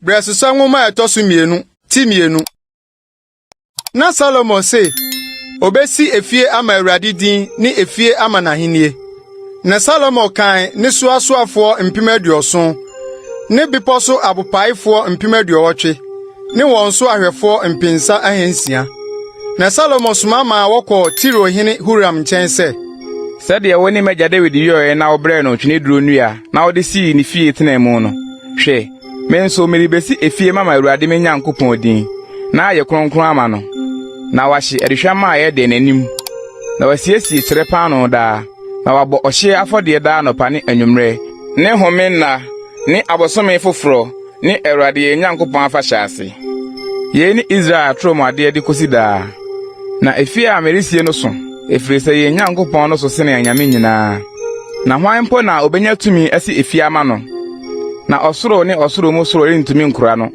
Brɛsesa nwoma a ɛtɔ so mmienu ti mmienu. Na Salomo se obesi efie ama Awurade din ne efie ama n'ahennie. Na Salomo kan ne so asoafoɔ mpem aduɔson ne bepɔ so abopaefoɔ mpem aduɔwɔtwe ne wɔn so ahwɛfoɔ mpensa ahansia. Na Salomo soma maa wɔkɔɔ Tiro hene Huram nkyɛn sɛ, Sɛdeɛ wo ne m'agya Dawid yɔeɛ na wobrɛɛ no ntweneduro nnua na wode sii ne fie tenaa mu no, hwɛ, me nso merebɛsi efie mama Awurade me Nyankopɔn din, na ayɛ kronkron ama no, na wahye aduhwamma a ɛyɛ dɛ n'anim, na wasiesie kyerɛ paanoo daa, na wabɔ ɔhyeɛ afɔdeɛ daa anɔpa ne anwummerɛ, ne home nna, ne abosome foforɔ, ne Awurade yɛn Nyankopɔn afahyɛ ase. Yei ne Israel atoro mu adeɛ de kɔsi daa. Na efie a meresie no so, ɛfiri sɛ yɛn Nyankopɔn no so sene anyame nyinaa. Na hwan mpo na ɔbɛnya tumi asi efie ama no? Na ɔsoro ne ɔsoro mu soro rentumi nkura no.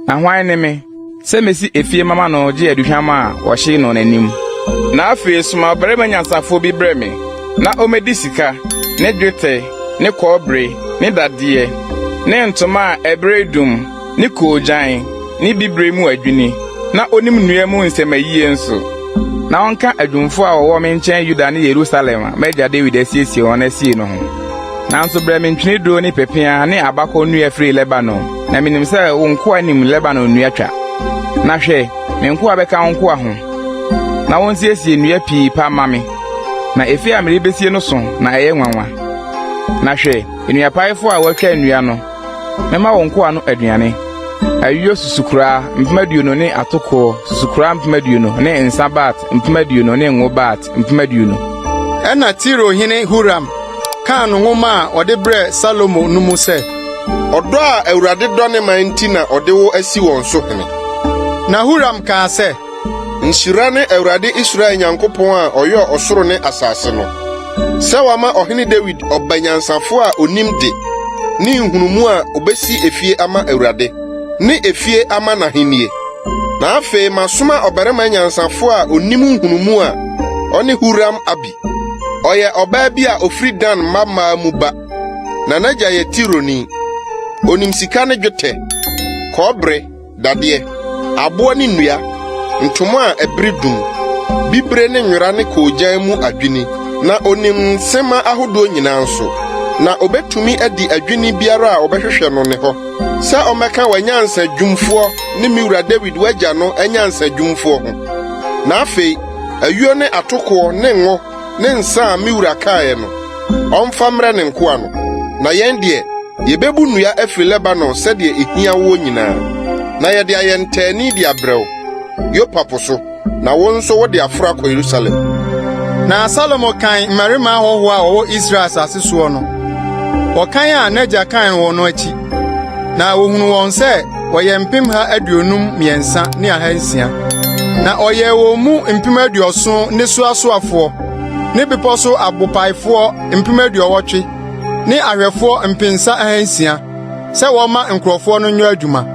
Na hwan ne me? sɛ mesi efie mama no gye aduhwam a wɔhye no n'anim. Na afei soma ɔbarima nyansafoɔ bi brɛ me, na ɔmmɛdi sika, ne dwetɛ, ne kɔbere, ne dadeɛ, ne ntoma a ɛberedum, ne koogyan, ne bibire mu adwini, na ɔnim nnua mu nsɛmma yie nso. Na ɔnka adwumfoɔ a wɔwɔ me nkyɛn Yuda ne Yerusalem a m'agya Dawid asiesie wɔn asie no ho. Nanso brɛ me ntweneduro ne pepeaa ne abakɔnnua firi Lebanon. Na minim sɛ wo nkoa nim Lebanon nnua twa. Na hwɛ, me nkoa bɛka wo nkoa ho, na wonsiesie nnua pii pa mma me, na efie a merebesie no sõ na ɛyɛ nwanwa. Na hwɛ, nnuapaefo a wɔatwa nnua no, mɛma wo nkoa no aduane, ayuo susukoraa mpem aduonu ne atokoɔ susukoraa mpem aduonu ne nsa bat mpem aduonu ne ngo bat mpem aduonu. Ɛnna Tiro hene Huram kaa no nwoma a ɔde brɛɛ Salomo no mu sɛ. Ɔdɔ a Awurade dɔ ne man nti na ɔde wo asi wɔn so hene. Na Huram kaa sɛ. Nhyira ne Awurade Israel Nyankopɔn a ɔyɔɔ ɔsoro ne asase no, sɛ wama Ɔhene Dawid ɔba nyansafo a onim de ne nhunumu a obesi efie ama Awurade. ne efie ama n'ahenni. Na afei masoma ɔbarima nyansafo a onim nhunumu a ɔne Huram-Abi. Ɔyɛ ɔbaa bi a ofiri Dan mma mmaa mu ba, na n'agya yɛ Tironi. Onim sika ne dwetɛ, kɔbere, dadeɛ, aboɔ ne nnua, ntoma a ɛbere dum, bibire ne nwera ne koogyan mu adwini, na onim nsɛmma ahodoɔ nyinaa nso. Na obetumi adi adwini biara a wɔbɛhwehwɛ no ne hɔ. sɛ ɔmmɛka w'anyansa dwumfoɔ ne me wura Dawid w'agya no anyansa dwumfoɔ ho. Na afei, ayuo ne atokoɔ ne ngo ne nsã a me wura kaeɛ no, ɔmfa mmrɛ ne nkoa no. Na yɛn deɛ, yɛbɛbu nnua afiri Lebanon sɛdeɛ ɛhia woɔ nyinaa, na yɛde ayɛ ntaani de abrɛ wo, Yopa po so. Na wo nso wode aforo akɔ Yerusalem. Na Salomo kan mmarima ahɔho a wɔwɔ Israel asase soɔ no, wɔkan a n'agya kan wɔn no akyi, na wɔhunu wɔn sɛ wɔyɛ mpemha aduonum mmiɛnsa ne ahansia. Na ɔyɛɛ wɔn mu mpem aduɔson ne so asoafoɔ, ne bepɔ so abopaefoɔ mpem aduɔwɔtwe, ne ahwɛfoɔ mpensa ahansia, sɛ wɔmma nkurɔfoɔ no nyɔ adwuma.